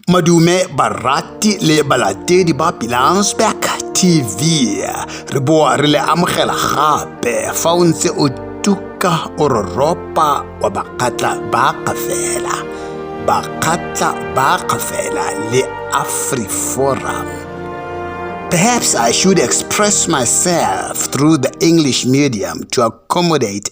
Madume barati le balatedi ba Pilansberg TV. Re boa re le amogela gape fa o ntse o tuka o roropa wa bakgatla ba kafela. Bakgatla ba kafela le AfriForum. Perhaps I should express myself through the English medium to accommodate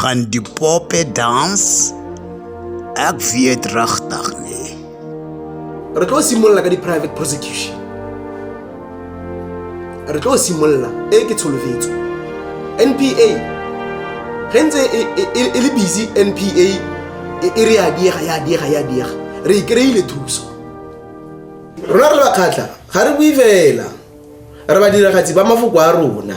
Gaan die poppe dans? Ek weet regtig nie. Re tlo simolola ka di private prosecution. Re tlo simolola e ke tsholofetso. NPA re ntse e, e, e, e le busy NPA e re ya diega ya diega ya diega re ikreile thuso rona re bakgatlha ga re bue fela re badiragatsi ba mafoko a rona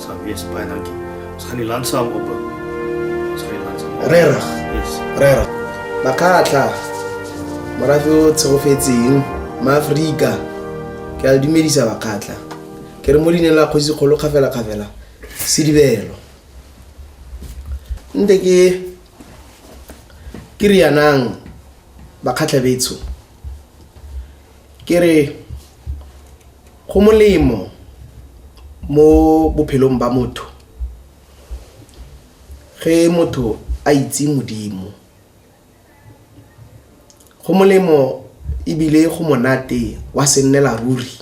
Sal wees baie dankie. Ons gaan die land saam op. Ons gaan die land saam. Regtig. Yes. Regtig. Makatla. Morafe o tshegofetseng maAforika. Ke a dumedisa bakatla. Ke re mo dineng la kgosi kgolo kgafela kgafela. Sedibelo. Nte ke ke rianang bakhatlha betsho. Ke re Go molemo mo bophelong ba motho ge motho a itse Modimo. Go molemo ebile go monate gwa se nnela ruri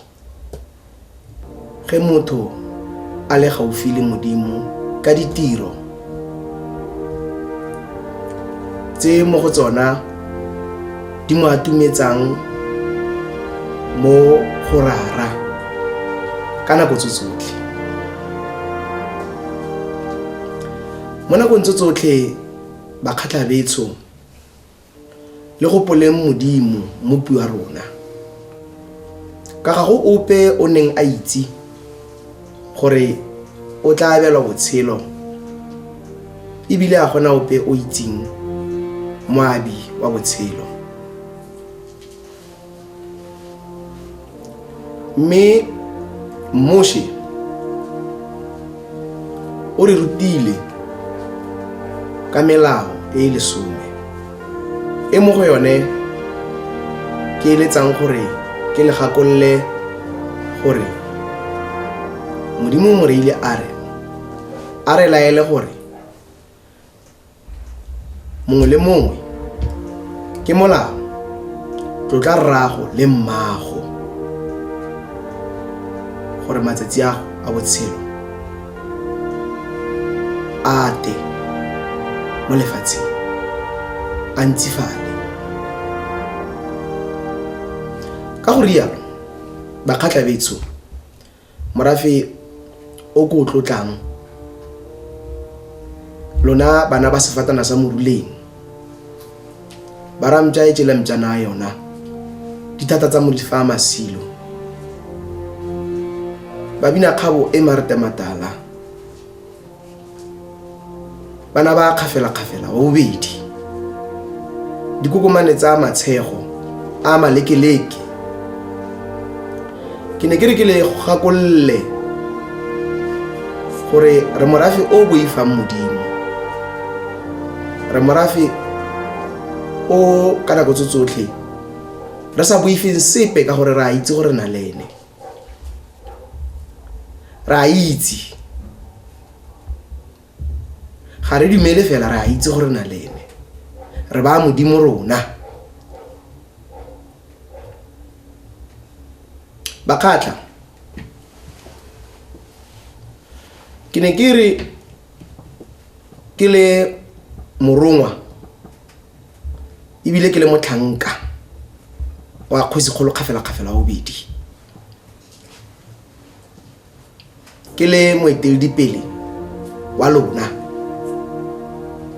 ge motho a le gaufi le Modimo ka ditiro. tse mo go tsona di mo atumetsang mo go rara ka nako tso tsotlhe mo nakong tso tsotlhe bakgatlhabetsho Le go poleng Modimo, mopi wa rona. Ka ga go ope o neng a itse gore o tla abelwa botshelo ebile a gona ope o itseng moabi wa botshelo. mme moshe o re rutile ka melao e e lesome e mo go yone ke eletsang gore ke le gakolole gore modimo moreile a re a re laele gore mongwe le mongwe ke molao tlotla rrago le mmago gore matsatsi ago a botshelo a te mo lefatsheng a ntsifale ka go rialo bakgatla betsho Morafe o ko o tlotlang, lona bana ba sefatana sa moruleng, ba ramtša e tšela mpšana ya yona, dithata tsa mo di fa masilo. Babina kgabo e marete matala, bana ba kgafela-kgafela wa bobedi dikokomane tsa matshego a malekeleke ke ne ke re ke le gakolole gore re morafe o boifang modimo re morafe o ka nako tse tsotlhe re sa boifeng sepe ka gore re a itse gore na le ene re a itse ga re dumele fela re a itse gore na le ene re ba modimo rona bakgatla ke ne ke re ke le morongwa ebile ke le motlhanka wa kgosi kgolo kgafela-kgafela wa bobedi ke le moeteledipele wa lona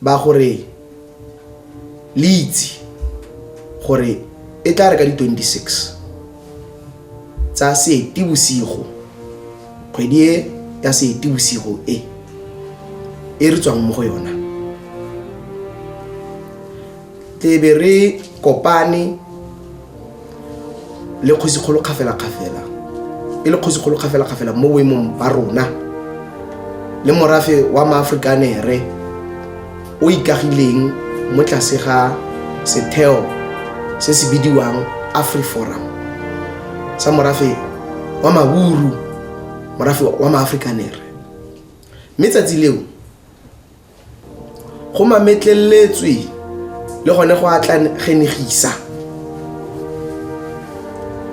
ba gore le itse gore e tla re ka di-26 tsa seetibosigo kgwedi e ya seetibosigo e e re tswang mo go yona e be re kopane le kgosikgolo kgafela-kgafela e le kgosikgolo kgafela-kgafela mo boemong ba rona le morafe wa maaforikaneere o ikagileng mo tlase ga setheo se se bidiwang afriforum sa morafe wa maburu morafe wa maaforikaneere mme tsatsi leo Go mametleletswe le gone go atlagenegisa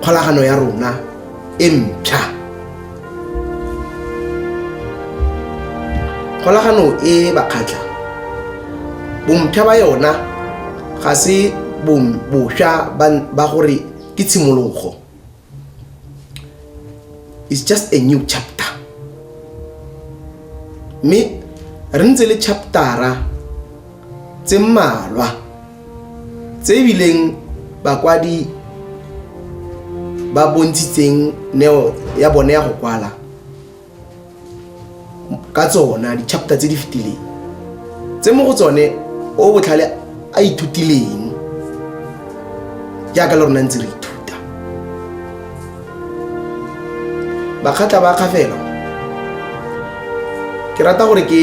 kgolagano ya rona e mpšha. Kgolagano e bakgatla bompšha ba yona ga se bosha ba gore ke tshimologo. it's just a new chapter mme re ntse le chaptera tse mmalwa tse ebileng bakwadi ba bontshitseng neo ya bone ya go kwala ka tsona di-chapter tse di fetileng tse mo go tsone o botlhale a ithutileng jaaka le rona ntse re ithuta bakgatla ba kgafela ke rata gore ke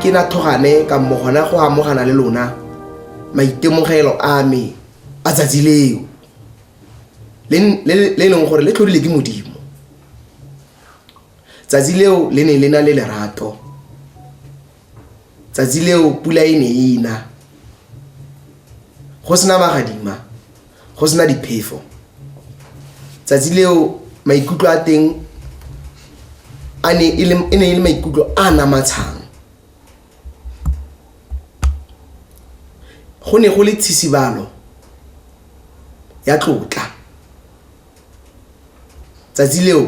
ke na thogane ka mo gona go amogana le lona maitemogelo a me a tsatsi leo le e leng gore le tlhodile ke modimo tsatsi leo le ne le na le lerato tsatsi leo pula e ne e na go sena magadima go sena diphefo tsatsi leo maikutlo a teng a ne e ne e le maikutlo a namatshang Go ne go le tshisibalo ya tlotla. Tsatsi leo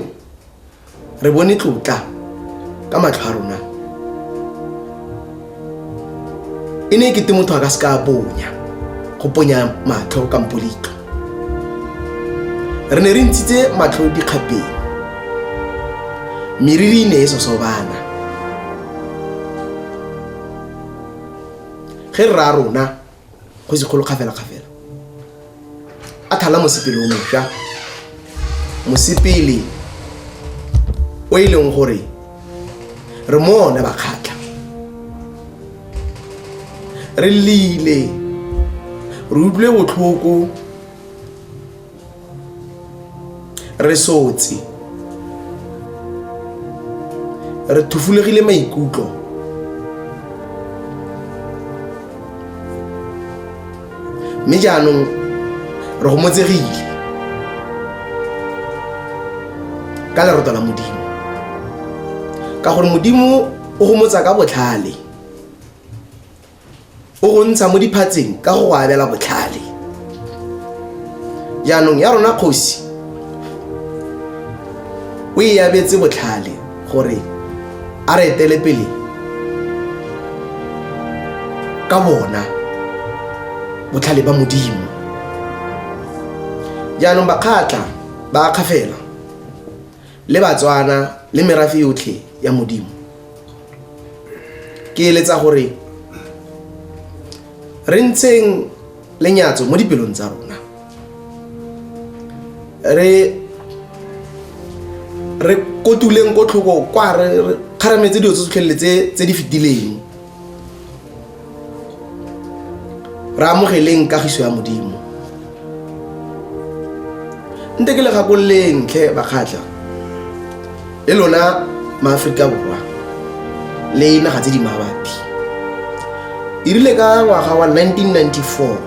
re bone tlotla ka matlho a rona. E ne e kete motho a ka se ka a bonya, go ponya matlho kampo leitlho. re ne re ntshitse matlho dikgapeng meriri e ne e sosobana ge rra rona go se kgolo kgafela-kgafela a thala mosepele o mosha mosepele o e leng gore re mo one bakgatlha re lile re utlwile botlhoko re sotse re thufulegile maikutlo mme jaanong re gomotsegile ka leroto la modimo ka gore modimo o gomotsa ka botlhale o go ntsha mo diphatseng ka go go abela botlhale jaanong ya rona kgosi o e abetse botlhale gore a re etele pele ka bona botlhale ba modimo jaanong bakgatla ba akgafela le batswana le merafe yotlhe ya modimo ke eletsa gore re ntsheng lenyatso mo dipelong tsa rona re re kotuleng ko tlhoko kwa re kgarametse dilo tse tsotlhelele tse di fetileng re amogeleng kagiso ya modimo nte ke le gakololeng tlhe bakgatlha le lona maaforika borwa le naga tse di mabapi e rile ka ngwaga wa 1994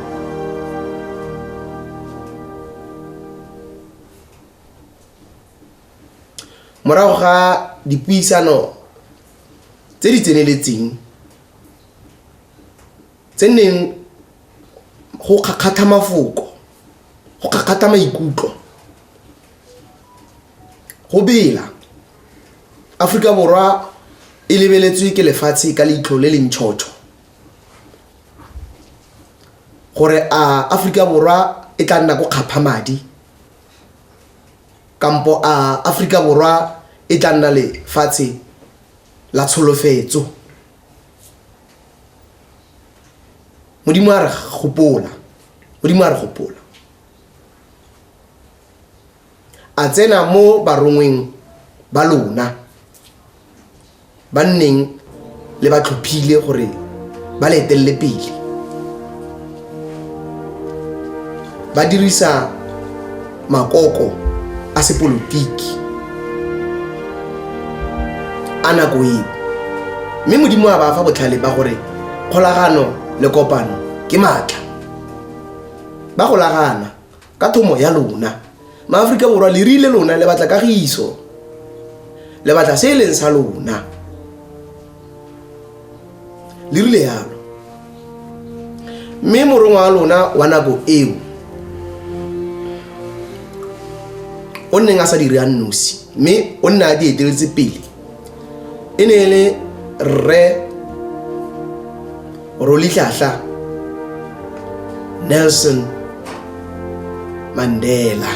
morago ga dipuisano tse di tseneletseng Tse neng go kgakgatha mafoko, go kgakgatha maikutlo, go bela. Aforika Borwa e lebeletswe ke lefatshe ka leitlho le le ntšhotšho gore a Aforika Borwa e tla nna ko kgapha madi kampo a Aforika Borwa e tla nna lefatshe la tsholofetso. Modimo a re gopola. Modimo a re gopola. A tsena mo barongweng ba lona ba nneng le ba tlhophile gore ba le etelele pele ba dirisa makoko a sepolotiki a nako eo mme modimo a ba fa botlhale ba gore kgolagano le kopano ke maatla ba golagana ka thomo ya lona maaforika borwa le rile lona le batla kagiso le batla se e leng sa lona le rile yalo mme morongwa wa lona wa nako eo o nneng a sa dire a nosi mme o nne a di eteletse pele e ne e le rre Rolitlahla Nelson Mandela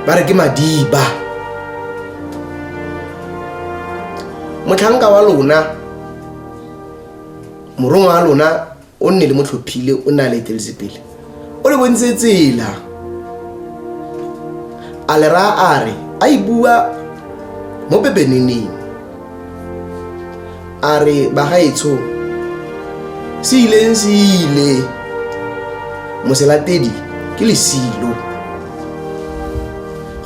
ba re ke madiba motlhanka wa lona morongwa wa lona o nne le motlhophile o ne a le eteletse pele o le bontse tsela a le raya a re a e bua mo bebeneneng a re bagaetsho se ileng se ile moselatedi ke lesilo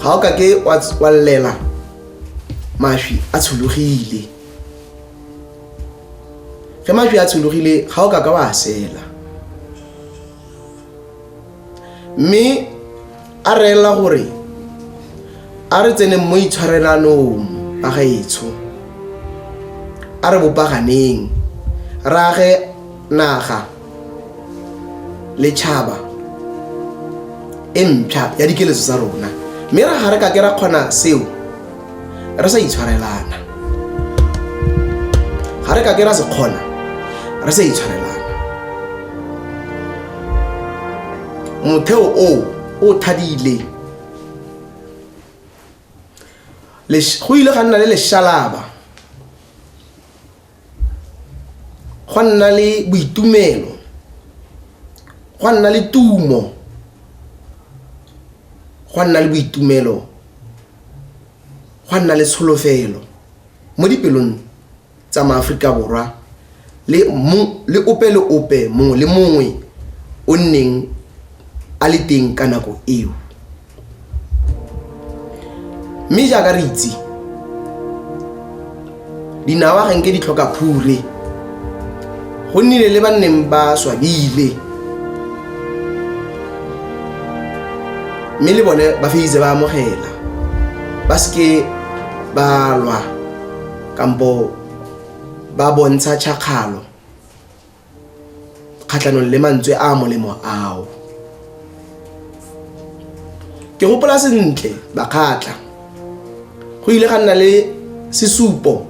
ga o ka ke wa tswalela mašwi a tshologile ge majwi a tshologile ga o ka ka wa sela mme a reela gore a re tseneng mo itshwarelanong ba gaetsho a re bopaganeng rage naga letšhaba e mpšha ya dikeletso tsa rona mme ra ga re ka ke ra kgona seo re sa itshwarelana ga re ka ke ra se kgona re sa itshwarelana motheo o o thadile go ile ga nna le leshalaba Gwa nna le boitumelo, gwa nna le tumo, gwa nna le boitumelo, gwa nna le tsholofelo mo dipelong tsa maAforika Borwa le le ope le ope mongwe le mongwe o nneng a le teng ka nako eo. mme jaaka re itse dinawa ga nke di tlhoka phure go nnile le ba nneng ba swabile mme le bone ba feditse ba amogela ba seke ba lwa kampo ba bontsha tšhakgalo kgatlhanong le mantswe a molemo ao ke gopola sentle bakgatla go ile ga nna le sesupo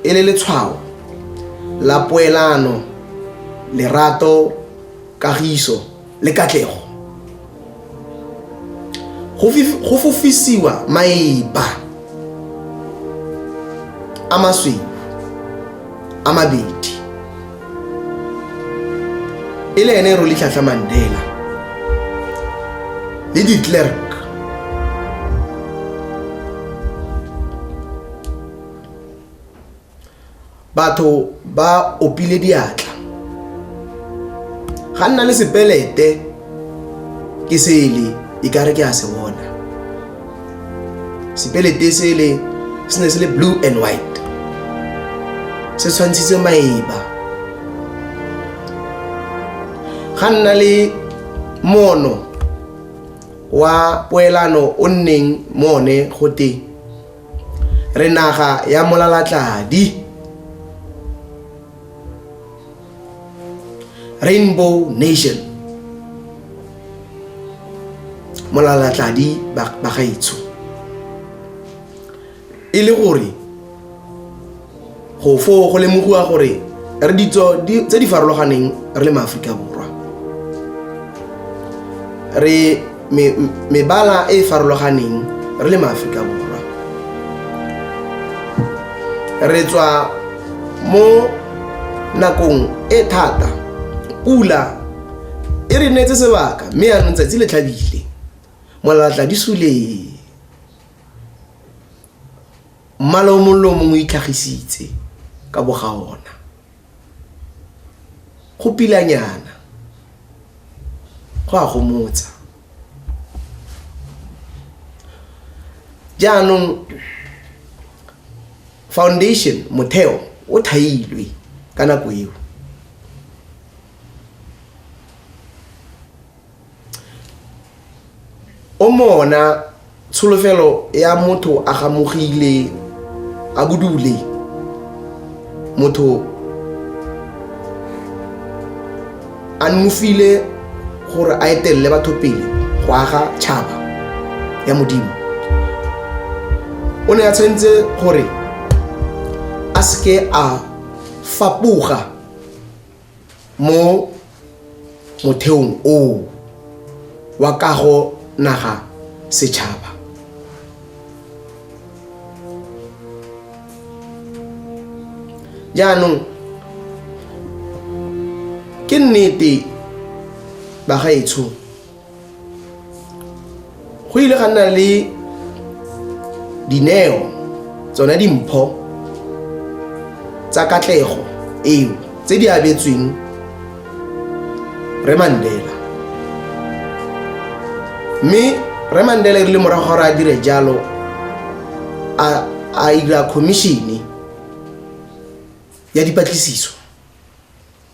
e le letshwao la poelano lerato kagiso le katlego go fofisiwa maeba a masweu a mabedi e le ene rolitlhatlha mandela le diclerk batho ba opile diatla ga nna le sepelete ke sele e kare ke a se bona sepelete sele se ne se le blue and white se tshwantshitse maeba ga nna le mono wa poelano o nneng mone go teng Re naga ya molalatladi. Rainbow nation. Molalatladi bagaetsho. E le gore go foo go lemogiwa gore re ditso tse di farologaneng re le maaforika borwa re mebala e e farologaneng re le maaforika borwa re tswa mo nakong e thata pula e re neetse sebaka mme yanong tsatsi le tlhabile molalatla di sulee Mmala o mongwe le o mongwe o itlhagisitse ka boga ona. Go pilanyana. Go a gomotsa. Jaanong foundation, motheo, o thailwe ka nako eo. o mona tsholofelo ya motho a gamogile a budule motho a nonofile gore a etelele batho pele go aga tšhaba ya modimo o ne a tshwanetse gore a seke a fapoga mo motheong oo wa kago naga setšhaba jaanong ke nnete bagaetsho Go ile ga nna le dineo tsone dimpho tsa katlego eo tse di abetsweng re mandela mme re mandela e rile morago gore a dire jalo a ira commissione ya dipatlisiso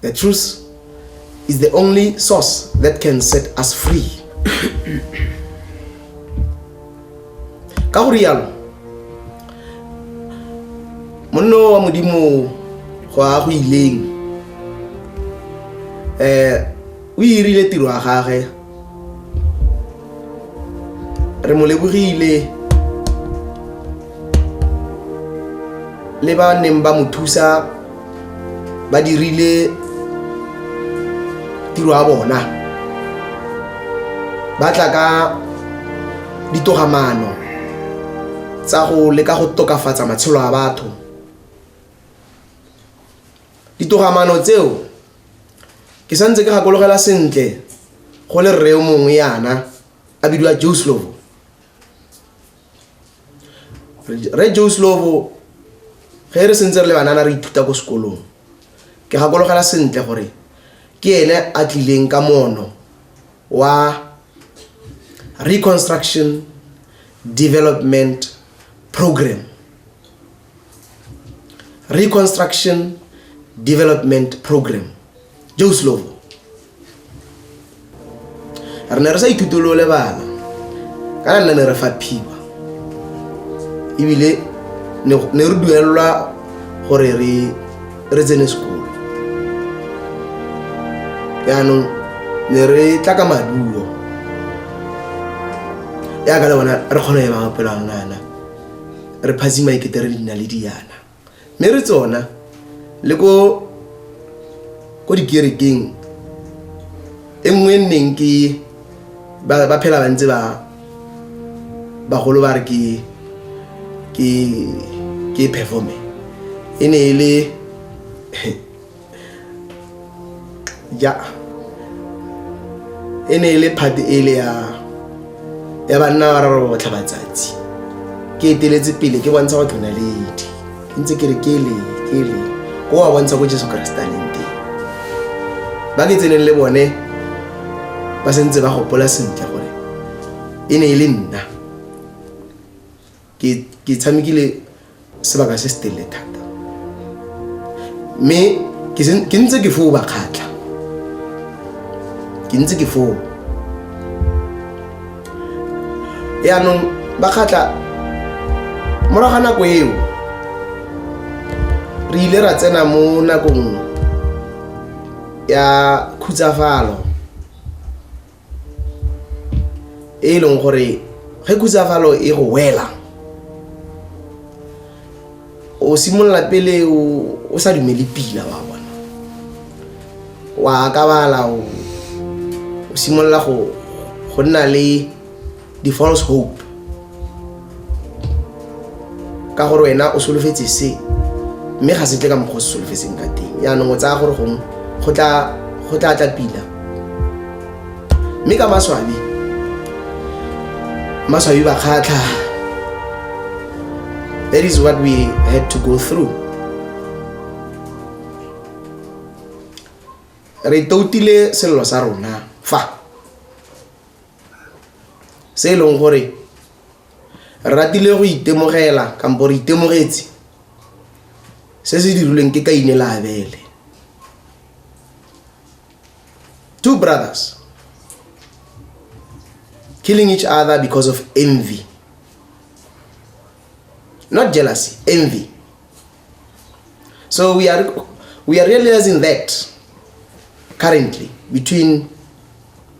The truth is the only source that can set us free. ka go rialo monno wa modimo go a go ileng um o irile tiro ya gage re mo lebogile le ba neng ba mo thusa ba dirile tiro ya bona ba tla ka ditogamaano tsa go leka go tokafatsa matshelo a batho Ditogamano tseo ke santse ke gakologela sentle go le rreo mongwe yana a bidiwa joe slovo re joe slovo ge re sentse re le banana re ithuta ko sekolong ke gakologela sentle gore ke ene a tlileng ka mono wa reconstruction development program reconstruction development program joe slovo re ne re sa ithuto le o lebala ka re nna ne re fa phiba ebile ne re duelelwa gore re tsene sekolo yaanong ne re tla ka maduo yaka le bona re kgona go ema maphelo a rona yana re phazima ekete re nna le diana mme re tsona le ko ko dikerekeng e nngwe e nneng ke ba phela ba ntse ba bagolo ba re ke ke ke performe e ne e le ja e ne e le phate e le ya ya banna ba raro botlha batsatsi ke eteletse pele ke bontsha go tlona ledi ntse ke re ke le ke le ko wa bontsha ko jesu keresete a leng teng ba ke tseneng le bone ba sentse ba gopola sentle gore e ne e le nna ke tshamekile sebaka se se telele thata mme ke ntse ke foo ba kgatlha ke ntse ke foo yaanong ba kgatlha morago ga nako eo re ile ra tsena mo nakong ya khutsafalo e e leng gore ge khutsafalo e go wela o simolola pele o sa dumele pila wa bona wa akabala o simolola go nna le the false hope ka gore wena o solofetse se mme ga se tle ka mokgwa o se solofetseng ka teng yaanong o tsaya gore gongwe go tla tla pila mme ka maswabi maswabi ba kgatlha that is what we had to go through re toutile sello sa rona fa Se e leng gore re ratile go itemogela kampo re itemogetse se se dirilweng ke kaine le abele two brothers killing each other because of envy not jealousy envy so we are we are realizing that currently between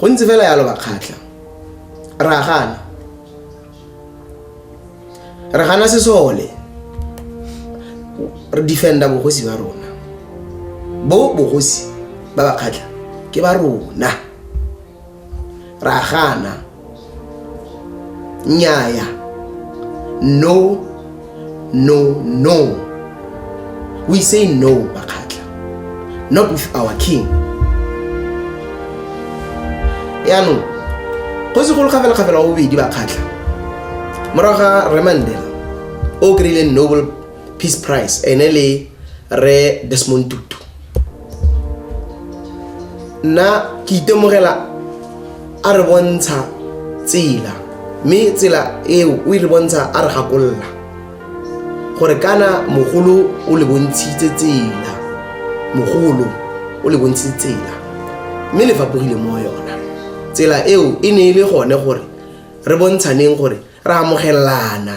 go ntse fela yalo bakgatlha ra gana re gana sesole re defenda bogosi ba rona bo bogosi ba bakgatlha ke ba rona ra gana nnyaya no no no we say no bakgatla not with our king yaanong go se golo kgafelakgafela wa bobedi bakgatlha morago ga re mandela o kry-ileng noble peace price ene le re desmond tutu nna ke itemogela a re bontsha tsela mme tsela eo o e re bontsha a re gakolola gore kana mogolo o le bontshitse tsela mogolo o le bontshitse tsela mme le fapogile mo yona tsela eo e ne e le gone gore re bontshaneng gore re amogelelana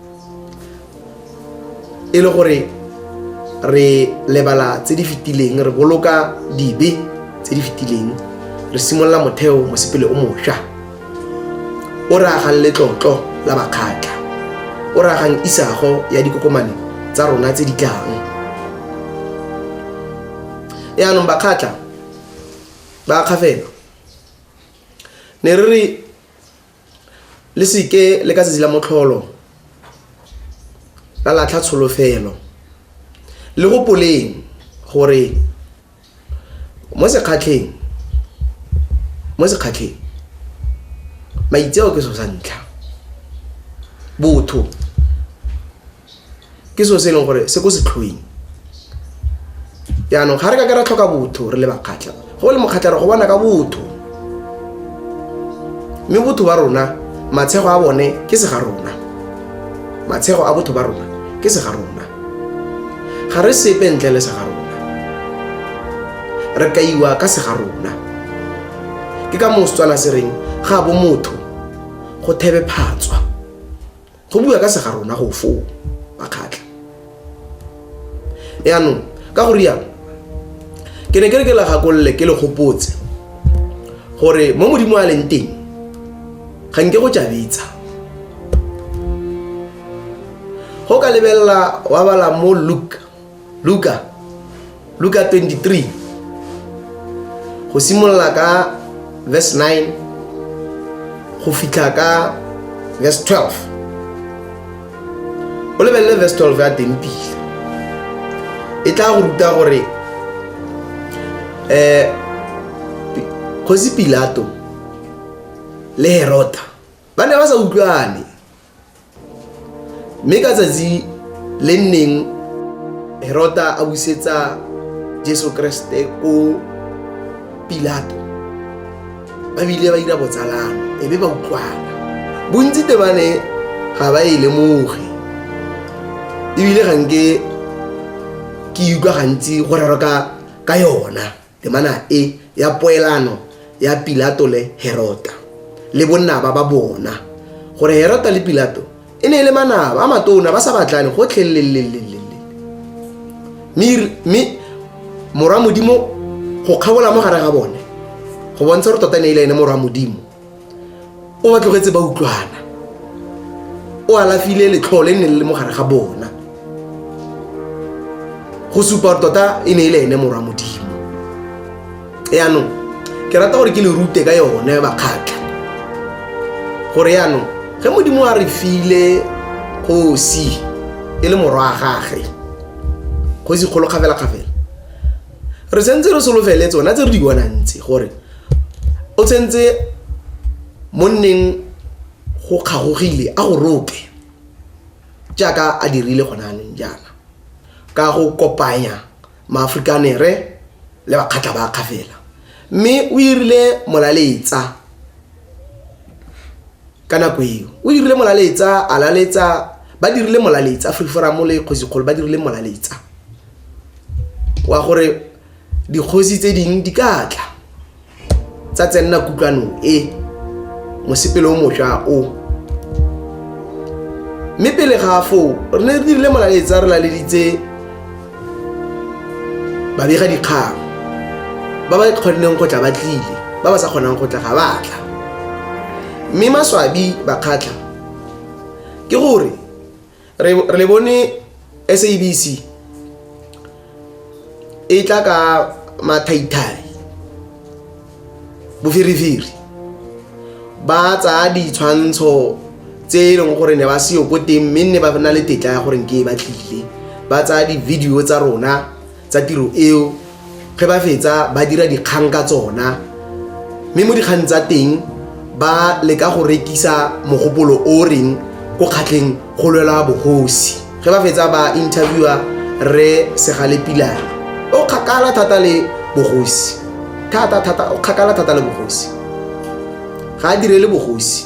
e le gore re lebala tse di fetileng re boloka dibe tse di fetileng re simolola motheo mosepele o mošwa o re agang letlotlo la bakgatla o re agang isago ya dikokomane tsa rona tse di tlang yaanong bakgatla ba kgafelo ne re re le seke le ka tsatsi la motlholo la latlha tsholofelo le go poleng gore mo sekgatlheng mo sekgatlheng maitseo ke so sa ntlha botho ke seo se e leng gore se ko setlhoing yaanong ga re ka ke ra tlhoka botho re le bakgatlha go le mokgatlha re go bona ka botho mme botho ba rona matshego a bone ke se ga rona matshego a botho ba rona ke se ga rona ga re sepe ntle le se ga rona re kaiwa ka se ga rona ke ka moo setswana se reng ga bo motho go thebe phatswa go bua ka sega rona go foo makgatlha yaanong ka go rialo ke ne ke re ke la gakolole ke le gopotse gore mo modimo a leng teng ga nke go tšabetsa go ka lebelela wa bala mo luke luka luka 23 go simolola ka verse 9 go fitlha ka verse 12 o lebelele verse 12 ya teng pila e tla go ruta gore um kgosi pilato le herota ba ne ba sa utlwane Mme ka tsatsi le nneng Herota a busetsa Jesu Kriste ko Pilato ba bile ba dira botsalano e be ba utlwana bontsi te ba ne ga ba e lemoge ebile ga nke ke utlwa gantsi go rero ka yona Temana e ya poelano ya Pilato le Herota le bonnaba ba bona gore Herota le Pilato e ne e le manaba a matona ba sa batlane gotlhelelelelele mme morwa modimo go kgabola mo gare ga bone go bontsha gore tota ne e le ene morwa modimo o ba tlogetse ba utlwana o alafile letlhoo le ne le le mo gare ga bona go supa gore tota e ne e le ene morwa modimo yaanong ke rata gore ke le rute ka yone bakgatlha gore yaanong ge modimo a re file kgosi e le morwa a gage kgosi kgolo kgafela-kgafela re sentse re solofele tsona tse re di bonang tse gore O tsentse monneng go kgagogile a go rope jaaka a dirile gone jaanong jaana ka go kopanya Maafrikanere le Bakgatla ba Kgafela mme o irile molaletsa ka nako eo. O irile molaletsa a laletsa ba dirile molaletsa Afriforum le Kgosi Kgolo ba dirile molaletsa wa gore dikgosi tse dingwe di ka tla tsa tsenna kutlwanong e mosepele o mošwa o mme pele ga foo re ne re dirile molaletsa re laleditse babega dikgang ba ba kgoneng go tla ba tlile ba ba sa kgonang go tla ga ba tla mme maswabi ba kgatlha ke gore re le bone SABC e tla ka mathaithai boferefere ba tsaya ditshwantsho tse e leng gore ne ba seyo ko teng mme nne ba na le tetla ya gore ke e ba tlile ba tsaya di-video tsa rona tsa tiro eo ge ba fetsa ba dira dikgang ka tsona mme mo dikgang tsa teng ba leka go rekisa mogopolo o reng ko kgatlheng go lwela bogosi ge ba fetsa ba interviewa re segale pilana o kgakala thata le bogosi thata thata o kgakala thata le bogosi ga a direle bogosi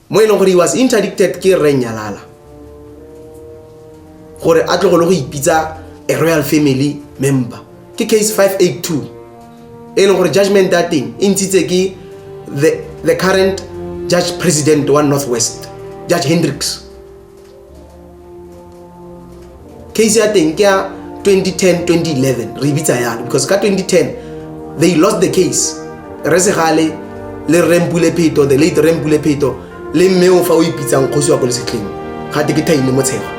mo e leng gore he was interdicted ke rre nyalala gore a tlogolo go ipitsa a royal family member ke case 582 e leng gore judgment ya teng e ntshitse ke the current judge president wa northwest judge hendricks case ya teng ke ya 2010 2011 re e bitsa yalo because ka 2010 they lost the case re segale le rempule pheto the late rempule pheto le mme o fa o ipitsang kgosi wa ko lesetlheng ga te ke thaine motshego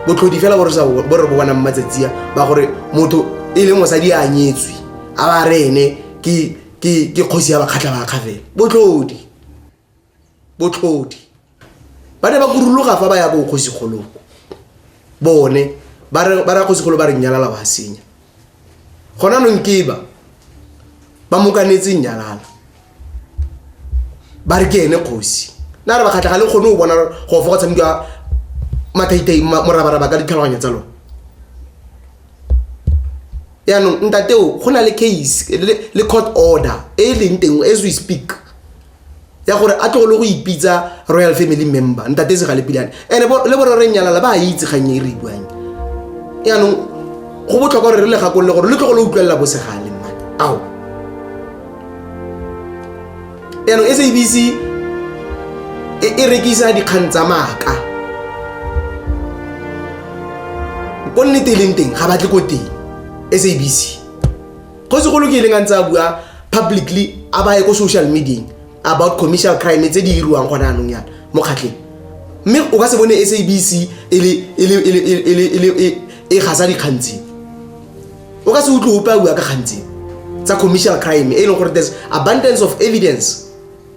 botlhodi fela bo re bo bonang matsatsiya ba gore motho e leng mosadi a nyetswe a ba re ene ke kgosi ya bakgatlha bakga fela botlhodi botlhodi ba ne ba kuruluga fa ba ya bo kgosigolong bone ba re ba ra kgosigolo ba re nyalala wa senya gona nong ke ba ba mokanetse nyalala ba re ke ene kgosi na re ba kgatlha ga le kgone go bona go fa go tshamekiwa mathaithai morabaraba ka ditlhaloganya tsa lone yaanong ntateo go na le case le court order e e leng teng as we speak ya gore a tlogole go ipitsa royal family member ntate se ga le pilane and le bore re nyalala ba a itse kgang e re buang yaanong go botlhokwa gore re le gakolole gore le tlogo le utlwelela bosegale mma ao yaanong sabc e, e rekisa dikgang tsa maaka ko nnete e leng teng ga batle ko teng sabc go segolo ke ileng a ntse a bua publicly a baye ko social medieng about commercial crime tse di iriwang gone anong yana mo kgatlheng mme o ka se bone sabc e gasa dikgantseng o ka se utlwe ope a bua ka kgantseng tsa commercial crime e leng gore there's abundance of evidence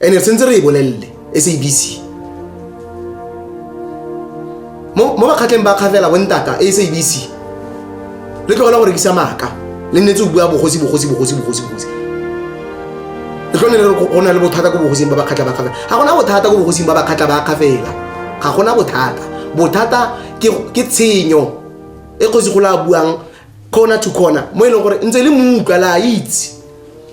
ene re sentse re e bolelele sabc mo mo bakgatleng ba kgafela bontata sabc le tlogela go rekisa maaka le nnetse o bua bogosi bogosi bogosi bogosi bogosi le tlone le re go na le bothata ko bogosing ba bakgatlha ba kgafela ga gona bothata ko bogosing ba bakgatlha ba kgafela ga gona bothata bothata ke ke tshenyo e kgosi go la buang corner to corner mo e leng gore ntse le mo utlwa la itse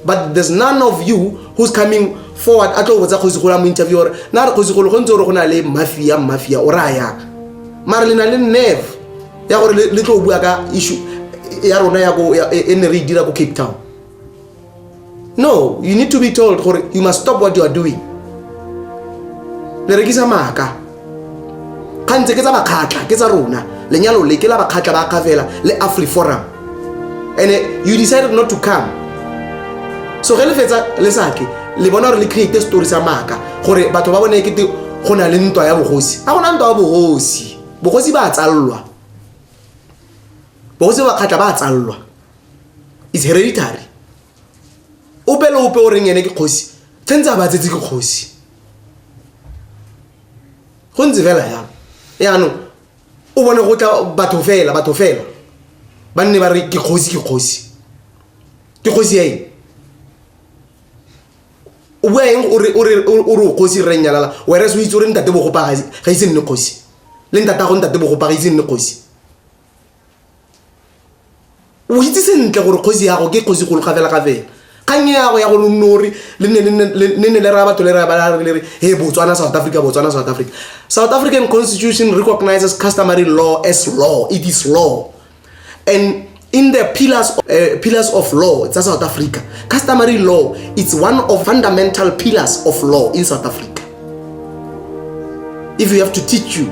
but there's none of you who's coming forward a tlo botsa kgosi gola mo interview gore na re kgosi golo go ntse gore go na le mafia mafia o raya yaka mara le na le nerve ya gore le tlo bua ka issue ya rona ya e ne re e dira ko cape town no you need to be told gore you must stop what you are doing le rekisa maaka kgantse ke tsa bakgatlha ke tsa rona lenyalo le ke la bakgatlha ba kgafela le afri forum and you decided not to come so ge le fetsa le sake le bona gore le create story sa maaka gore batho ba bone kete go na le ntwa ya bogosi a gona ntwa ya bogosi bogosi ba tsalelwa bogosi ba bakgatlha ba tsalelwa is hereditary ope le ope o reng ene ke kgosi tshwanetse a ba tsetse ke kgosi go ntse fela jalo yaanong o bone go tla batho fela batho fela ba nne ba re ke kgosi ke kgosi ke kgosi ya eng o bua eng o re o kgosi rre nyalala were se o itse o re ntate bogopa ga ise nne kgosi le ntata go ntate bogopa ga ise nne kgosi o itse sentle gore kgosi yago ke kgosi golo gafela gafela kgang yago ya gore nore le ne ne le raya batho le raya ba le re he botswana south africa botswana south africa south african constitution recognizes customary law as law it is law and in the pillars of, uh, pillars of law tsa south africa customary law it's one of fundamental pillars of law in south africa if you have to teach you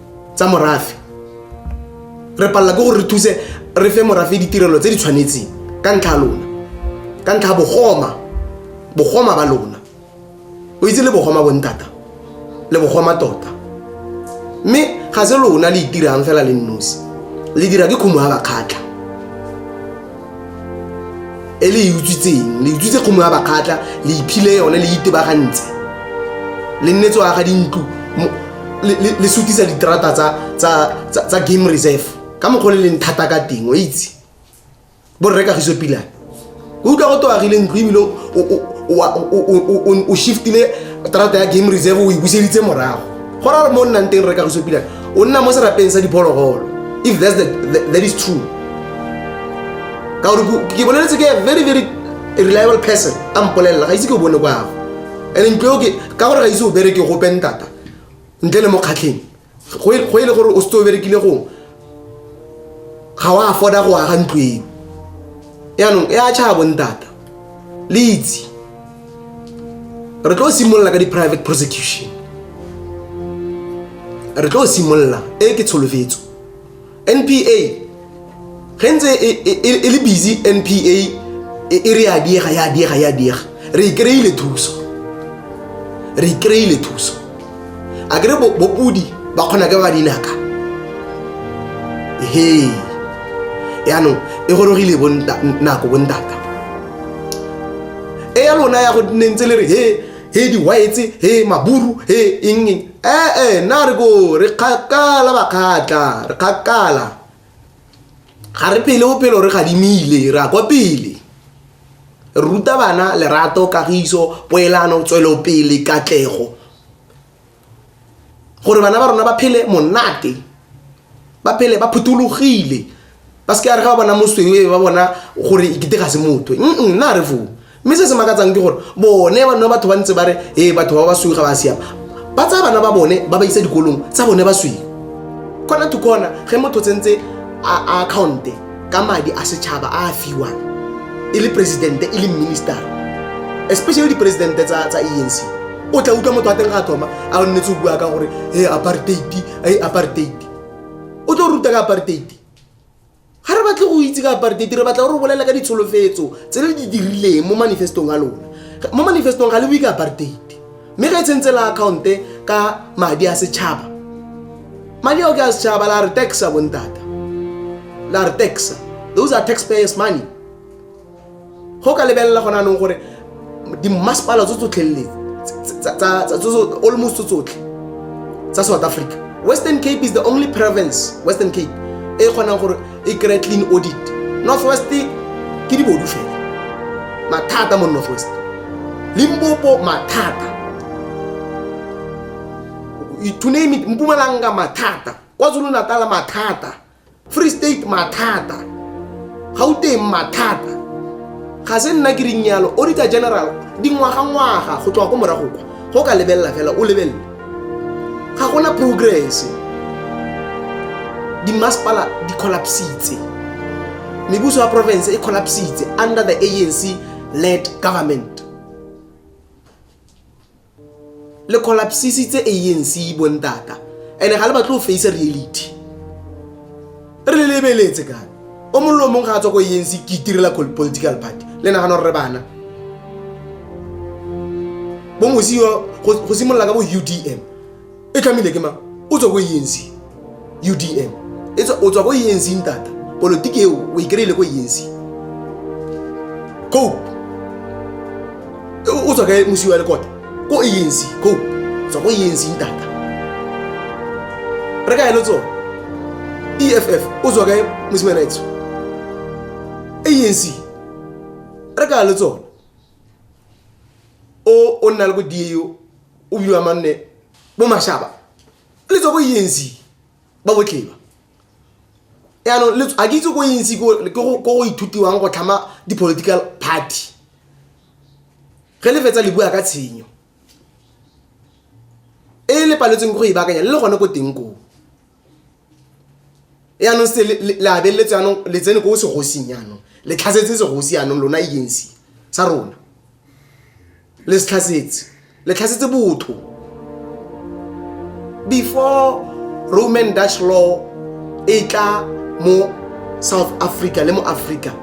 tsa morafe re palela ke gore re thuse re fe morafe ditirelo tse di tshwanetseng ka ntlha lona ka ntlha bogoma bogoma ba lona o itse le bogoma bontata le bogoma tota mme ga se lona le itirang fela le nnosi le dira ke khumo ya bakgatlha e le e utswitseng le utswitse kgomo ya bakgatla le iphile yone le itebagantse le nnetse wa ga dintlo le sutisa diterata tsa game reserve ka mokgwa le leng thata ka teng o itse borre kagiso pilane o utlwa go toagile ntlo ebile o shiftile terata ya game reserve o e buseditse morago go ra mo nnang teng re ka go sepila o nna mo serapeng sa diphologolo if that's the, the, that is true ka gore ke boleletse ke very very reliable person a mpolelela ga ise ke o bone kwago and ntlo ke ka gore ga ise o bereke go pentata ntle le mokgatlheng go e le gore o setse o berekile gongwe ga o afforda go aga ntlo eo yaanong e a tšhaya bontata le itse re tlo simolola ka di-private prosecution re tlo simolola e ke tsholofetso npa ge ntse e, e, e, e le busy npa e re ya diega ya diega ya diega re ikry-ile thuso re ikry-ile thuso a kere bopodi ba kgona ke ba dinaka he yaanong e gorogile nako bontata e ya lona ya go nentse le re he he di-witse he maburu he engeng ee eh, eh, na re ko re kgakala bakgatla re kgakala ga re pele o pelo re gadimile re a kwa pele re ruta bana lerato kagiso poelano tswelopele katlego gore bana ba rona ba phele monate ba phele ba phuthologile ba se ke a re ga ba bona mosweu e ba bona gore e kete ga se motho nna re foo mme se se makatsang ke gore bone ba nna batho ba ntse ba re ee batho ba ba sweu ga ba siama ba tsaya bana ba bone ba ba isa dikolong tsa bone ba sweu kona to kona ge motho tsentse a account ka madi a setšhaba a a fiwang e le presidente e le minister especially dipresidente tsa tsa enc o tla utlwa motho a teng ga thoma a o nnetse o bua ka gore e apartheid e apartheid o tlo ruta ka apartheid ga re batle go itse ka apartheid re batla gore o bolela ka ditsholofetso tse le di dirileng mo manifestong a lona mo manifestong ga le bue ka apartheid mme ga e tshentse la account-e ka madi a setšhaba madi ao ke a setšhaba la re taxa bontata la re taxa those are tax payers money go ka lebelela gona anong gore dimmasepala tso tsotlhelele almost tso tsotlhe tsa south africa western cape is the only province western cape e kgonang gore e kry clean audit north west ke dibodu fela mathata mo north west limpopo mathata to name it mpumalanga mathata kwazulu natala mathata free state mathata gauteng mathata ga se nna ke reng yalo auditor general dingwagangwaga go tloga ko morago kwa go ka lebelela fela o lebelele ga gona progress dimasepala di collapsitse mebuso ya province e collapsitse under the anc led government le collapsisitse anc bontata and ga le batle go face reality re le lebeletse ka o mollo o mongwe ga a tswa ko anc ke itirela political party le nagana gore re bana bomosio go simolola ka bo udm e tlhamile ke mang o tswa ko enc udm e o tswa ko enc ntata politiki eo o e kry-ile ko enc cope o tswa kae mosiwa le kota ko enc cope tswa ko enc ntata re ka elo tsone eff o tswa kae mosimana etso anc re ka elo tsone o o nna le bo dieo o biwa manne bo mashaba le tswa ko enc ba botleba yaanong a ke itse ko enc ko go ithutiwang go tlhama di-political party ge le fetsa le bua ka tshenyo e le paletseng go e baakanya le le gone ko teng koo yaanong se labeletse yaanong le tsene ko segosing yaanong le tlhasetse segosi yaanong lona agency e sa rona le se tlhasetse le tlhasetse botho before roman dutch law e tla mo south africa le mo africa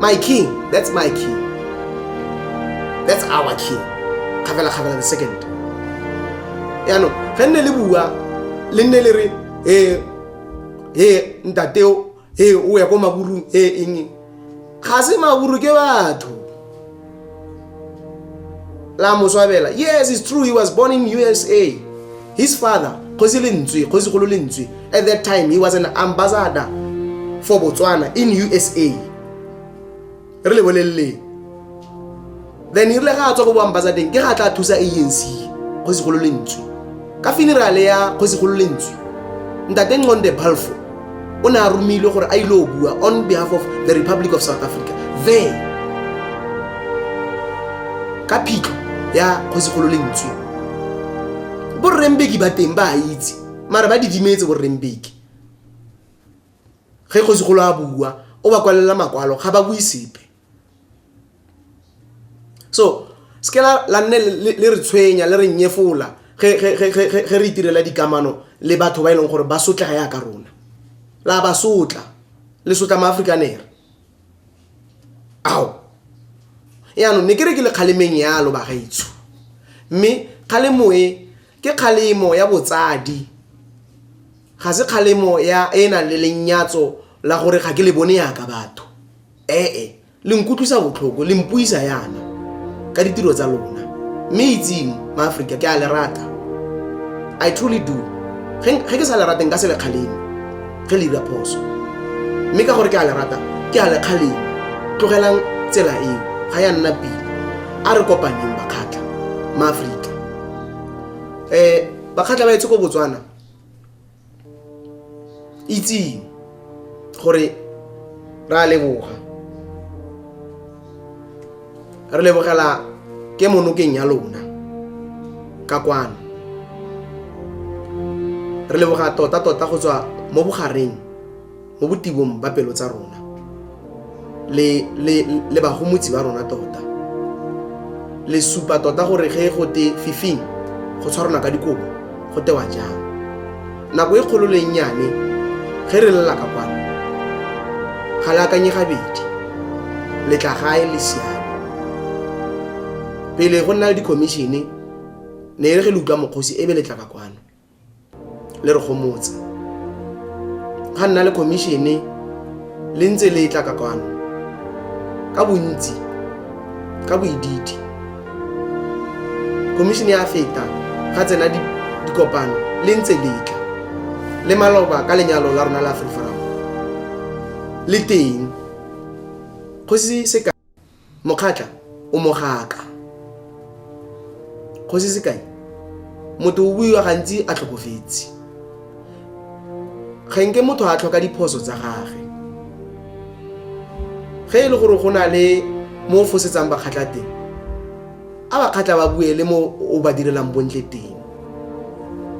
My king, that's my king. That's our king. Kgabela kgabela the second. Yaanong, ge nne le bua, le nne le re, eh, eh, ntateo, eh, o ya ko maburung, eh, eng, ga se maburu ke batho. la moswabela yes it's true he was born in usa his father kgosi lentswe kgosigolo lentswe at that time he was an ambassador for botswana in usa re le boleleleng then irile ga a tswa ko boambasadeng ke ga tla thusa anc kgosigolo lentswe ka funerale ya kgosigolo lentswe ntate nconde balfo o ne a romilwe gore a ile o bua on behalf of the republic of south africa there ka phitlho ya kgosigolo lentswe borrembeki ba teng ba a itse mara ba didimetse borrembeki ge kgosigolo a bua o ba kwalela makwalo ga ba bue sepe so se ke la nne le re tshwenya le re nnyefola ge re itirela dikamano le batho ba e leng gore ba sotlega yaka rona la ba sotla le sotla maafrikanere ao yaanong ne ke re ke le kgalemeng yalo bagaitsho mme kgalemo e ke kgalemo ya botsadi ga se kgalemo ya e nang le lenyatso la gore ga ke le bone yaka batho ee le nkutlwisa botlhoko le mpuisa yana ka ditiro tsa lona mme itseng maaforika ke a le rata i truly do ge ke sa le rate nka se le kgaleng ge le dira phoso mme ka gore ke a le rata ke a le kgaleng tlogelang tsela eo ga ya nna pele a re kopaneng bakgatlha maaforika um bakgatlha ba etse ko botswana itseng gore ra leboga re lebogela ke monokeng ya lona ka kwano re leboga tota tota go tswa mo bogareng mo botibong ba pelo tsa rona le, le, le bagomotsi ba rona tota le supa tota gore ge go te fifing go tshwarana ka dikobo go tewa jang nako e kgolo le nnyane ge re lela ka kwano ga le akanye gabedi le tla gae le siame pele go nna le dikhomišene ne e re ge le utlwa mokgosi e be le tla ka kwano le re gomotse ga nna le khomišene le ntse le tla ka kwano ka bontsi ka boididi khomišene ya feta ga tsena dikopano le ntse le tla le maloba ka lenyalo la rona la free forum le teng kgosi seka mokgatla o mogaka kgosi sekai motho o buiwa gantsi a tlhokofetse kgenke motho a tlhoka diphoso tsa gage ge e le gore go na le mo o fosetsang bakgatla teng a ba kgatla ba bue le mo o ba direlang bontle teng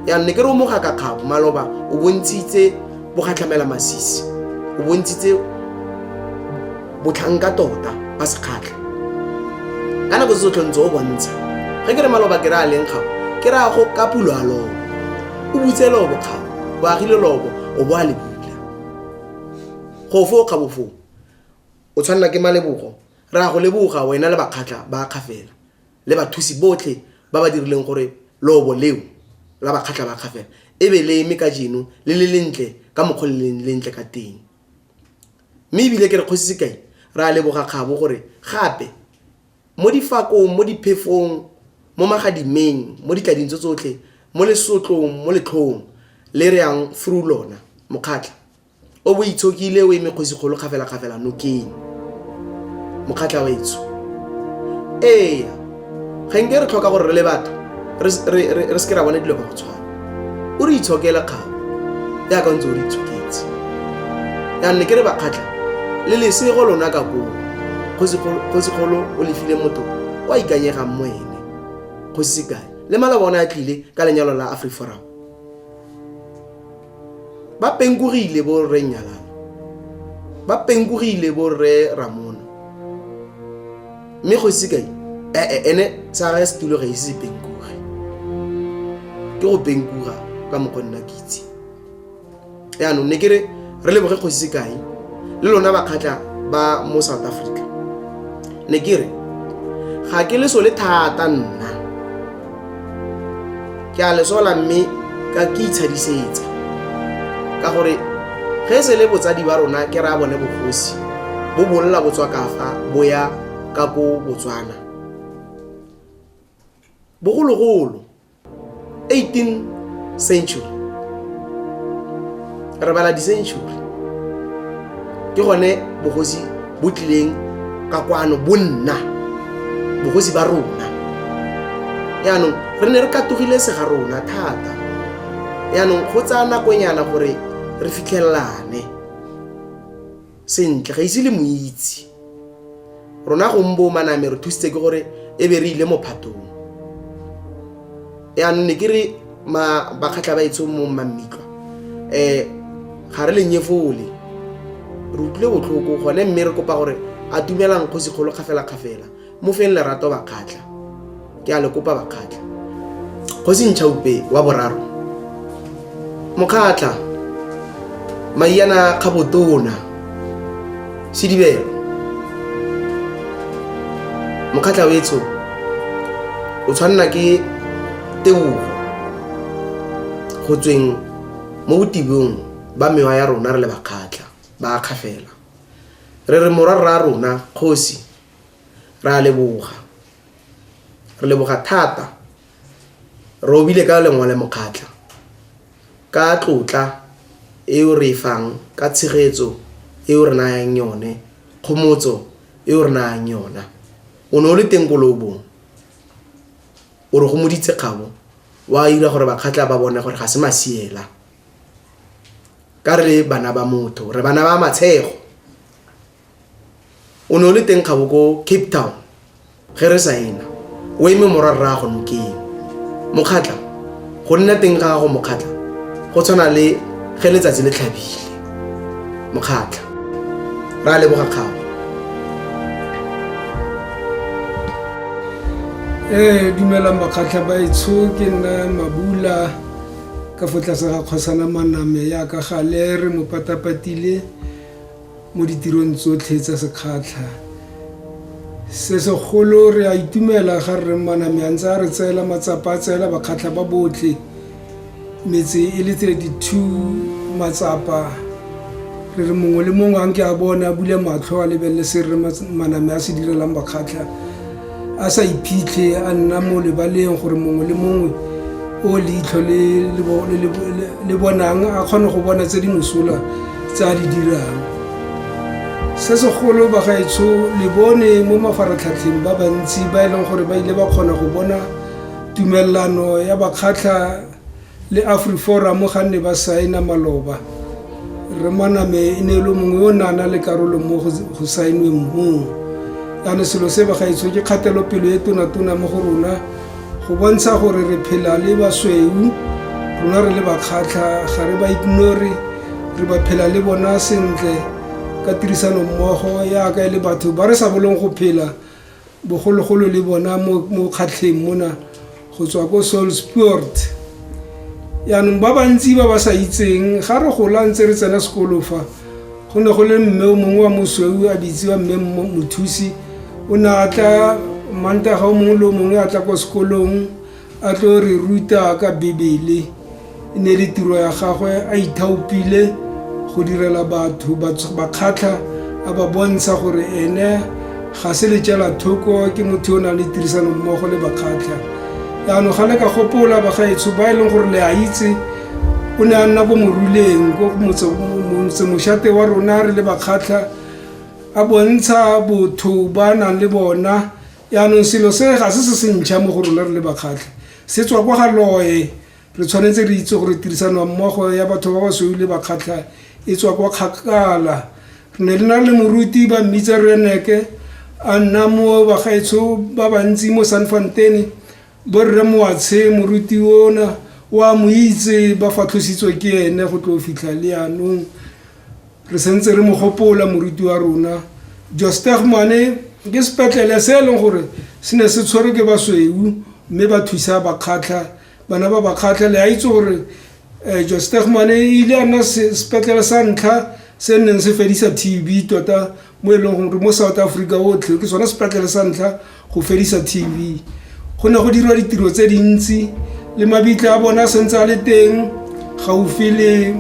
yanong ne ke re o moga ka kgabo maloba o bontshitse bogatlhamela masisi o bontshitse botlhanka tota ba sekgatlha ka nako se tsotlhe ntse o bontsha ga ke re maloba ke re a leng kgabo ke re a go ka pulo a lobo o butse lobo kgabo o agile lobo o bo a le bula go foo kgabo foo o tshwanela ke malebogo Re a go leboga wena le Bakgatla ba Kgafela le bathusi botlhe ba ba dirileng gore leobo leo la Bakgatla ba Kgafela e be le eme kajeno le le lentle ka mokgwa o le leng lentle ka teng. Mme ebile ke re Kgosi Sekai, re a leboga kgabo gore gape mo difakong, mo diphefong, mo magadimeng, mo ditlading tso tsotlhe, mo lesotlong, mo letlhong le re yang through lona, Mokgatla, o bo itshokile o eme kgosikgolo kgafelakgafela nokeng mokgatlha wa etsho ee ga nke re tlhoka gore re le batho re seke ra bone dilo ka go tshwana o re itshokela kgabo yaka ntse o re itshoketse yanne ke re bakgatlha le lesego lona ka koo kgosikgolo o lefile motho o a ikanyegang mo ene kgosi sekae le malaba one a tlile ka lenyalo la afriforum ba penkurile bo rre nyalana ba penkurile bo rre ramona mme go ise kae ee ene tsara setulo ga ise se penkure ke go penkura ka mokgwa nna ke itse yaanong ne ke re re leboge go ise kae le lona bakgatla ba mo south africa ne ke re ga ke le so le thata nna ke a lesola mme ka ke itshadisetsa ka gore ge e se le botsadi ba rona ke raya bone bogosi bo bolola botswa kafa bo ya ka ko botswana bogologolo 18 century re bala di-century ke gone bogosi bo tlileng ka kwano bo nna bogosi ba rona yaanong re ne re katogile sega rona thata yaanong go tsaya nakonyana gore re fitlhelelane sentle ga ise le mo itse rona gombo maname re thusitse ke gore e be re ile mophatong yaanong ne ke re bakgatlha ba etsong mo mmammitlo um eh, ga re lenyefole re utlwile botlhoko gone mme re kopa gore a dumelang kgosi kgolo kgafelakgafela mo feng lerato bakgatlha ke a le kopa bakgatlha kgosi ntšhaupe wa boraro mokgatla maiana kgabotona sedibelo mokgatla wetsho o tshwanela ke tebogo go tsweng mo botibong ba mewa ya rona re le bakgatla ba kgafela re re morwa rra rona kgosi re a leboga re leboga thata Robile ka lengole mokgatla ka tlotla e o re e fang ka tshegetso e o re nayang yone, kgomotso e o re nayang yona. O ne o le teng ko loobong, o re gomoditse kgabo, o a ira gore bakgatla ba bone gore ga se masiela. Ka re le bana ba motho, re bana ba matshego. o ne o le teng kgabo ko cape town ge re sa ena o eme mora rraago nokeng mokgatla go nna teng ga gago mokgatla go tshwana le ge letsatsi le tlhabile mokgatla ra leboga kgago ee dumela makgatlha baetsho ke nna mabula ka fo tlase ga kgosana maname yaka gale re mo patapatile mo ditirong tsotlhe tsa sekgatlha se segolo re a itumela ga rre mmaname a ntse a re tseela matsapa a tseela bakgatlha ba botlhe metse e le 32 matsapa re re mongwe le mongwe a nke a bone a bule matlho a lebelele se rre maname a se direlang bakgatlha a sa iphitlhe a nna mo lebaleng gore mongwe le mongwe o leitlho le bonang a kgone go bona tse di mosola tse a di dirang se segolo bagaetsho le bone mo mafaratlhatlheng ba bantsi ba e leng gore ba ile ba kgona go bona tumelelano ya bakgatlha Le Afriforum ga nne ba saena maloba, Rre Maname e ne e le mongwe o ne a na le karolo mo go saenweng moo. Jaanong selo se bagaetsho ke kgatelopelo e tonatona mo go rona go bontsha gore re phela le basweu rona re le bakgatlha ga re ba ignore re ba phela le bona sentle ka tirisanommogo yaka e le batho ba re sa bolong go phela bogologolo le bona mo kgatlheng mona go tswa ko solsport yaanong ba bantsi ba ba sa itseng ga re gola ntse re tsena sekolo fa go ne go le mme o mongwe wa mosweu a bitsiwa mme mothusi o ne a tla mantaga o mongwe le o mongwe a tla kwa sekolong A tlo re ruta ka Bibele. E ne le tiro ya gagwe a ithaopile go direla batho bakgatlha a ba bontsha gore ene ga se letšela thoko ke motho o nang le tirisano mmogo le bakgatlha yaanong ga le ka gopola bagaetsho ba e leng gore le a itse o ne a nna ko moruleng ko motsemošate wa rona re le bakgatlha a bontsha botho ba nang le bona yaanong selo se ga se se sentšha mo go rona re le bakgatlhe se tswa kwa ga loe re tshwanetse re itse gore tirisano mmogo ya batho ba ba sweu le bakgatlha e tswa kwa kgakala re ne le na le moruti ba mmitsa reneke a nna mo bagaetsho ba bantsi mo san fantene borre moatshe moruti ona wa mo itse ba fatlhositswe ke ene go tlo fitlha le yanong Re sentse re mo gopola moruti wa rona Josteg Mane ke sepetlele se e leng gore se ne se tshwerwe ke basweu mme ba thusa bakgatlha bana ba bakgatlha le a itse gore um Josteg Mane e ile a nna sepetlele sa ntlha se nneng se fedisa TB tota mo e leng gore mo south africa otlhe ke sone sepatlele sa ntlha go fedisa tv go ne go dirwa ditiro tse dintsi le mabitla a bone a sentse a le teng gaufi le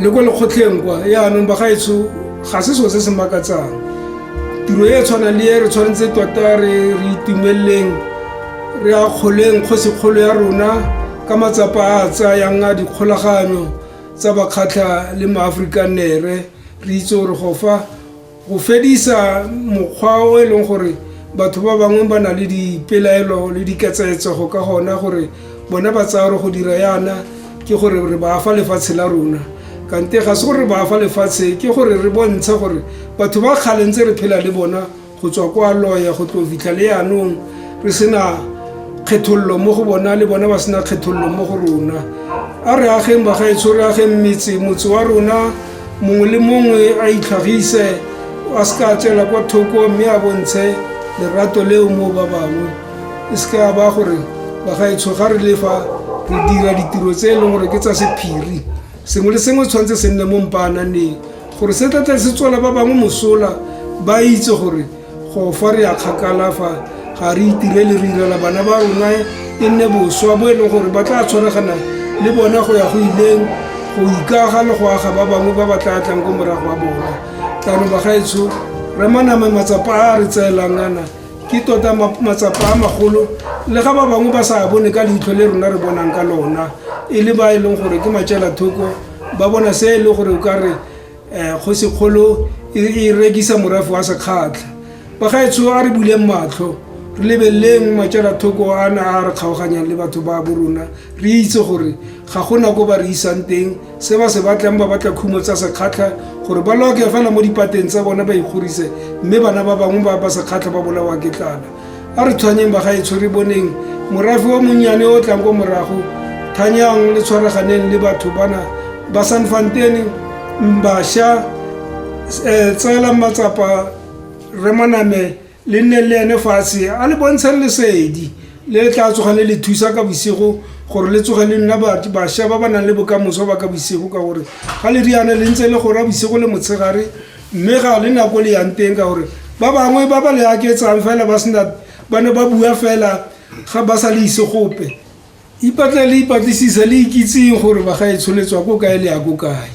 le kwa lekgotlheng kwa yaanong bagaetsho ga se selo se se makatsang tiro e e tshwanang le e re tshwanetse tota re re itumeleleng re akgoleng kgosikgolo ya rona ka matsapa a a tsayang a dikgolaganyo tsa bakgatlha le maafrikanere re itse gore go fa go fedisa mokgwa o e leng gore batho ba bangwe ba na le dipelaelo le diketsaetsego ka gona gore bona ba tsaya gore go dira yana ke gore re ba fa lefatshe la rona kante ga se gore re ba fa lefatshe ke gore re bontshe gore batho ba kgalentse re phela le bona go tswa kwa loya go tlo fitlha le yanong re sena kgethololo mo go bona le bona ba sena kgethololo mo go rona a re ageng bagaetsho re ageng metse motse wa rona mongwe le mongwe a itlhagise a se ka tswela kwa thoko mme a bontshe lerato leo mo ba bangwe e se ka ba gore bagaetsho ga re lefa re dira ditiro tse e leng gore ke tsa sephiri Sengwe le sengwe tshwanetse se nne mo mpaananeng gore se tla tle se tswela ba bangwe mosola ba itse gore go fa re ya kgakala fa ga re itirele re irela bana ba rona e nne boswa bo e leng gore ba tla tshwaregana le bona go ya go ileng go ikaga le go aga ba bangwe ba ba tla tlang ko morago wa bona tla no bagaetsho remaname matsapa a re tseelang ana ke tota matsapa a magolo le ga ba bangwe ba sa bone ka leitlho le rona re bonang ka lona e le ba e leng gore ke matšela thoko ba bona se e le gore o ka re um go sekgolo e, e rekisa morafe wa sekgatlha bagaetsho a re buleng matlho re lebeleleng matšela thoko a na a re kgaoganyang le batho ba bo rona re itse gore ga gona ko ba re isang teng se ba se batlang ba batla khumo tsa sekgatlha gore ba loke fela mo dipateng tsa bona ba ikgorise mme bana ba bangwe ba ba sekgatlha ba bolawa ke tlala a re tshwanyeng ba ga e tshwere boneng morafe wa monnyane o tlang ko morago thanyang le tshwaraganeng le batho bana ba sanfantene mbašwa um eh, tseelang matsapa remaname le nne le ene fatshe a le bontshang lesedi le le tla tsoga le le thusa ka bosigo gore le tsoge le nna bašwa ba ba nang le bokamoso ba ka bosigo ka gore ga le riana le ntse le gora bosigo le motshegare mme ga le nako le yang teng ka gore ba bangwe ba ba le aketsang fela ba sena ba ne ba bua fela ga ba sa le ise gope ipatle le ipatlisisa le ikitseng gore ba ga e tsholetswa ko kae le ya ko kae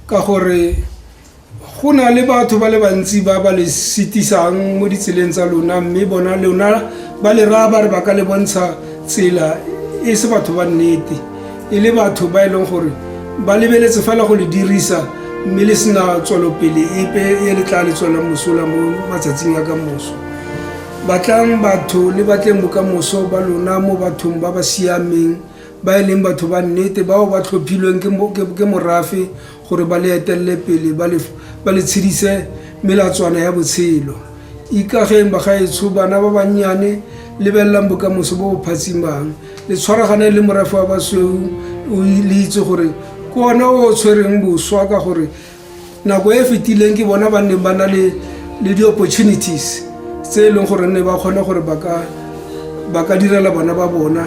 ka gore Go na le batho ba le bantsi ba ba le sitisang mo ditseleng tsa lona mme bona lona ba le raya ba re ba ka le bontsha tsela e se batho ba nnete e le batho ba e leng gore ba lebeletse fela go le dirisa mme le sena tswelopele epe e le tla le tswelang mosola mo matsatsing a ka moso batlang batho le batleng bokamoso ba lona mo bathong ba ba siameng ba e leng batho ba nnete bao ba tlhophilweng ke morafe gore ba le etelele pele ba le, ba le tshedise melatswana ya botshelo. Ikageng bagaetsho, bana ba bannyane, lebelelang bokamoso bo bo phatsimang, le tshwaraganeng le morafe wa basweu, o le itse gore ke one o o tshwereng boswa ka gore nako e e fetileng ke bona ba neng ba na le le di-opportunities tse e leng gore nne ba kgone gore ba ka ba ka direla bana ba bona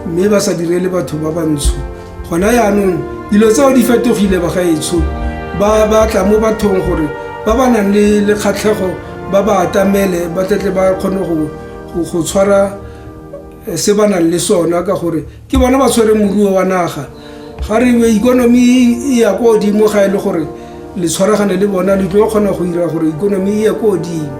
mme ba sa direle batho ba bantsho gona yaanong dilo tseo di fetogile bagaetsho ba batla mo bathong gore ba ba nang le le kgatlhego ba ba atamele ba tletle ba kgone go tshwara eh, se ba nang le sona ka gore ke bona ba tshwere moruo wa naga ga re be ikonomi e ya ko godimo ga e le gore le tshwaragane le bona le tlo kgona go dira gore ikonomi e ye ko godimo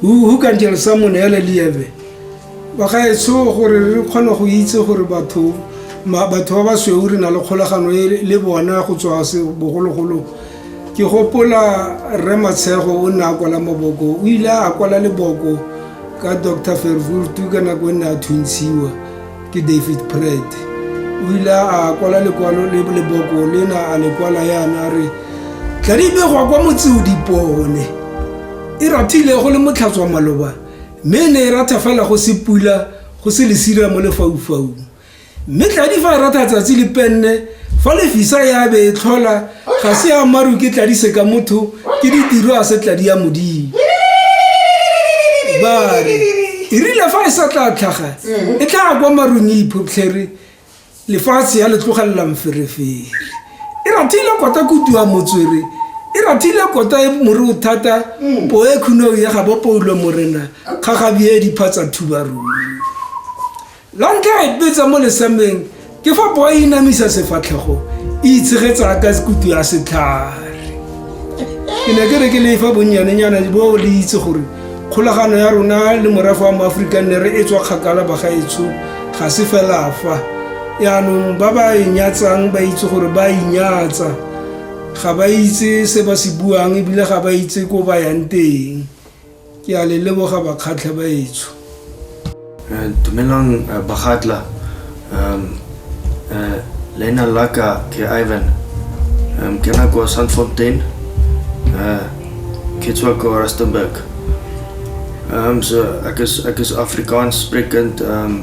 who, who can tell someone elelieve bagaetsho gore re kgone go itse gore batho ma- batho ba ba sweu re na le kgolagano e le bona go tswa se- bogologolo ke gopola rre matshego o ne a kwala maboko o ile a kwala leboko ka dr fervurtu ka nako e ne a thuntshiwa ke david pret o ile a kwala lekwalo le leboko lena a lekwala yana a re tladimegwa kwa motseo dipone e rathile go le motlhatswa maloba mme e ne e ratha fela go se pula go se lesira mo lefaufaung mme tladi fa e ratha tsatsi le penne fa lefisa ya be e tlhola ga se ya maru ke tladise ka motho ke ditiro a se tladi ya modimo bare e rile fa e sa tla tlhaga e tla kwa marung e iphoptlhere lefatshe ya le tlogelela mferefere e rathile kota kutua motswere e rathile kota e more o thata mm. po e khuneo ya ga bopoulo morena kgagabi e diphatsa thubarung La ntlha re betsa mo lesameng ke fa poa e namisa sefatlhego e itshegetsa ka kutu ya setlhare ke ne ke re ke lefa bonnyanenyana bo le itse gore kgolagano ya rona le morafe wa moaforika nne re e tswa kgakala bagaetsho ga se fela fa yaanong ba ba e nyatsang ba itse gore ba inyatsa ga ba itse se ba se buang ebile ga ba itse ko ba yang teng Ke a le leboga bakgatlha baetsho. Eh, dumelang eh, bakgatla um eh, leina la ka ke ivan um ke na kwa sandfontein uh, ke tswa kwa rustenburg um so ek is ek is afrikaans sprekend um